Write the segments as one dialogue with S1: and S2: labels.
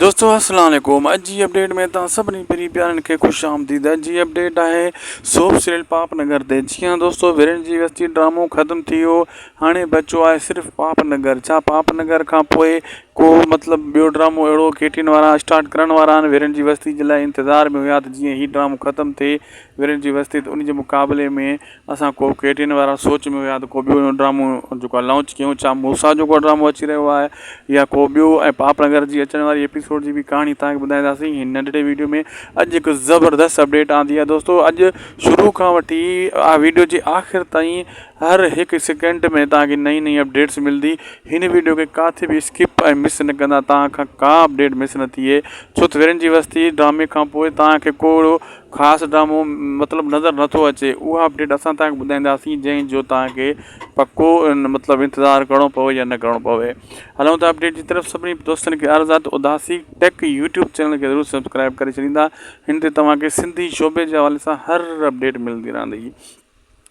S1: دوستو السلام عليڪم اڄ جي اپڊيٽ ۾ توهان سڀني پرين پيارن کي خوش آمديد اڄ جي اپڊيٽ آهي سوپ سيريل پاپ نگر تي جي ها دوستو ورين جي وستي ڊرامو ختم ٿي ويو هاڻي بچو آهي صرف پاپ نگر ڇا پاپ نگر کان پوء ڪو مطلب ٻيو ڊرامو اهڙو ڪيٽين وارا اسٽارٽ ڪرڻ وارا آهن ورين جي وستي جي لاء انتظار ۾ هيا ته جي هي ڊرامو ختم ٿي ورين جي وستي ته ان جي مقابلي ۾ اسان ڪو ڪيٽين وارا سوچ ۾ هيا ته ڪو ٻيو ڊرامو جيڪو آهي لانچ ڪيون ڇا موسيٰ جو ڪو ڊرامو اچي رهيو آهي يا ڪو ٻيو ۽ پاپڙ گهر جي اچڻ واري ايپيسوڊ جي به ڪهاڻي تهان کي ٻڌائينداسين هن ننڍڙي ويڊيو ۾ اڄ هڪ زبردست اپڊيٽ آندي آهي دوستو اڄ شروع کان وٺي ويڊيو جي آخر تائين هر هڪ سيڪنڊ ۾ تهان کي نئي نئي اپڊيٽس ملندي هن ويڊيو کي ڪاٿي به اسڪپ ۽ مس نه ڪندا تهان کان ڪا اپڊيٽ مس نه ٿئي ڇو ته ويرين جي وستي ڊرامي کان پوء تهان کي ڪو اهڙو خاص ڊرامو مطلب نظر نٿو اچي اها اپڊيٽ اسان تان ٻڌائينداسين جنهن جو توهان کي پڪو مطلب انتظار ڪرڻو پوي يا نه ڪرڻو پوي هلون ٿا اپڊيٽ جي طرف سڀني دوستن کي عرض آ ته اداسي ٽيڪ يوٽيوب چينل کي ضرور سبسڪرائب ڪري ڇڏيندا هن تي توهان کي سنڌي شعبي جي حوالي سان هر اپڊيٽ ملندي رهندي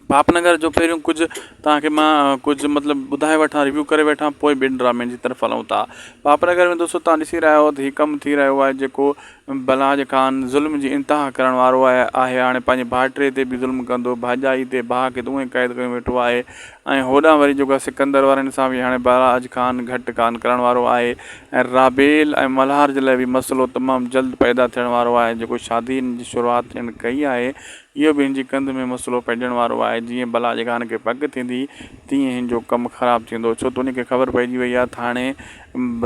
S1: پاپنگر جو پهريون ڪجهه توهان کي مان ڪجهه مطلب ٻڌائي وٺان ريويو ڪري وٺان پوء ٻين ڊرامن جي طرف هلون ٿا پاپنگر ۾ دوستو توهان ڏسي رهيا هو ته هي ڪم ٿي رهيو آهي جيڪو بلاج خان ظلم جي انتها ڪرڻ وارو آهي آهي هاڻي پنهنجي ڀائٽي تي به ظلم ڪندو ڀائجائي تي ڀاء کي ته اونئي قيد ڪيو ويٺو آهي ۽ هوڏانهن وري جيڪو سڪندر وارن سان به هاڻي بلاج خان گهٽ ڪانه ڪرڻ وارو آهي ۽ رابيل ۽ ملهار جي لاء به مسئلو تمام جلد پيدا ٿيڻ وارو آهي جيڪو شادين جي شروعات هن ڪئي آهي اهو به هن جي ڪنڌ ۾ مسئلو پئجڻ وارو آهي. جيئن بلا جي گهان کي پڪ ٿيندي، تيئن هن جو ڪم خراب ٿيندو. ڇو ته ان کي خبر پئجي وئي آهي ته هاڻي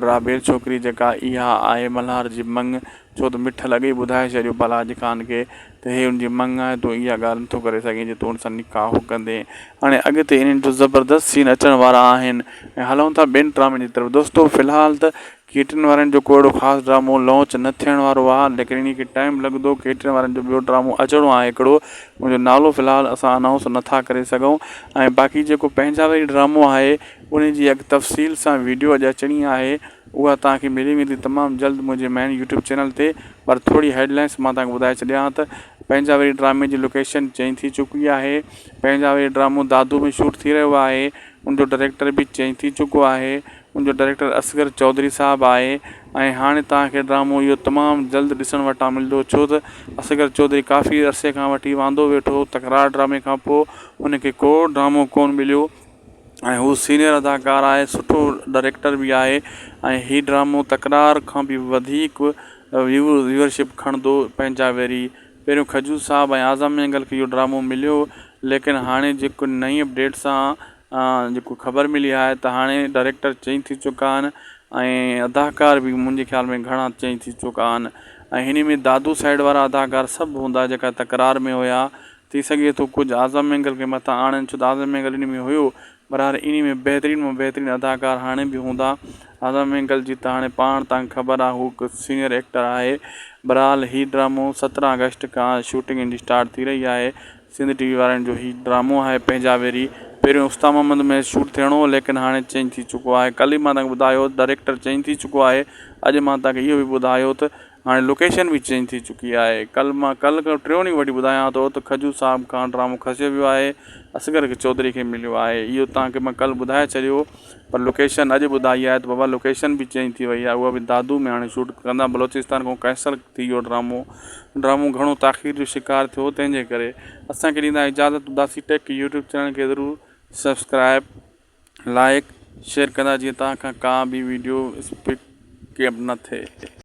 S1: رابيل ڇوڪري جيڪا اها آهي ملهار جي مڱ. ڇو ته مٺل اڳي ئي ٻڌائي ڇڏيو بلا جي گهان کي ته هي ان جي مڱ آهي، تون اها ڳالهه نٿو ڪري سگهين جو تون ان سان نڪاح ڪندين. هاڻي اڳتي انهن جو زبردست سين اچڻ وارا آهن ۽ هلون ٿا ٻين ڊرامن جي طرف. دوستو في الحال ته ڪيٽرن وارن جو ڪو اهڙو خاص ڊرامو لانچ نه ٿيڻ وارو آ ليڪن انهي کي ٽائيم لڳندو ڪيٽرن وارن جو ٻيو ڊرامو اچڻو آهي هڪڙو ان جو نالو في الحال اسان انائونس نه ٿا ڪري سگهون ۽ باقي جيڪو پنهنجا وري ڊرامو آهي انهي جي اڳ تفصيل سان ويڊيو اڄ اچڻي آهي اها توهان کي ملي ويندي تمام جلد منهنجي مين يوٽيوب چينل تي پر ٿوري هيڊ لائنس مان توهان کي ٻڌائي ڇڏيان ها ته پنهنجا وري ڊرامي جي لوڪيشن چينج ٿي چڪي آهي پنهنجا وري ڊرامو دادو ۾ شوٽ ٿي رهيو آهي ان جو ڊريڪٽر به چينج ٿي چڪو آهي ان جو ڊائريڪٽر اصغر چوڌري صاحب آهي ۽ هاڻي توهان کي ڊرامو اهو تمام جلد ڏسڻ وٽان ملندو ڇو ته اصغر چوڌري ڪافي عرصي کان وٺي واندو ويٺو هو تڪرار ڊرامي کان پوء هن کي ڪو ڊرامو ڪون مليو ۽ هو سينئر اداڪار آهي سٺو ڊائريڪٽر به آهي ۽ هي ڊرامو تڪرار کان به وڌيڪ ويو ويورشپ کڻندو پنهنجا ويري پهريون کجور صاحب ۽ اعظم مينگل کي اهو ڊرامو مليو ليڪن هاڻي جيڪو نئين اپڊيٽ سان جيڪو خبر ملي آهي ته هاڻي ڊائريڪٽر چينج ٿي چڪا آهن ۽ اداڪار به منهنجي خيال ۾ گهڻا چينج ٿي چڪا آهن ۽ هن ۾ دادو سائيڊ وارا اداڪار سڀ هوندا جيڪا تڪرار ۾ هيا ٿي سگهي ٿو ڪجهه اعظم مينگل کي مٿان آڻن ڇو ته اعظم مينگل ان ۾ هيو برحال ان ۾ بهترين مان بهترين اداڪار هاڻي به هوندا اعظم مينگل جي ته هاڻي پاڻ تان خبر آهي هو هڪ سينئر ايڪٽر آهي برحال هي ڊرامو سترهن آگسٽ کان شوٽنگ ان جي اسٽارٽ ٿي رهي آهي سنڌ ٽي وي وارن جو هي ڊرامو آهي پنهنجا ويري پهريون استا محمد ۾ شوٽ ٿيڻو هو ليڪن هاڻي چينج ٿي چڪو آهي ڪل ئي مان تنهن کي ٻڌايو ڊائريڪٽر چينج ٿي چڪو آهي اڄ مان تنهن کي اهو به ٻڌايو ته هاڻي لوڪيشن به چينج ٿي چڪي آهي ڪل مان ڪل کان ٽيون ڏينهن وٺي ٻڌايان ٿو ته کجو صاحب کان ڊرامو کسيو ويو آهي اصغر چوڌري کي مليو آهي اهو تنهن کي مان ڪل ٻڌائي ڇڏيو پر لوڪيشن اڄ ٻڌائي آهي ته بابا لوڪيشن به چينج ٿي وئي آهي اهو به دادو ۾ هاڻي شوٽ ڪندا بلوچستان کان قيصر ٿي ويو ڊرامو ڊرامو گهڻو تاخير جو شڪار ٿيو تنهن جي ڪري اسان کي ڏيندا اجازت اداسي ٽيڪ يوٽيوب چينل کي ضرور سبسڪرائب لائيڪ شيئر ڪندا جيئن توهان کان ڪا به ويڊيو اسپڪ ڪيپ نه ٿئي.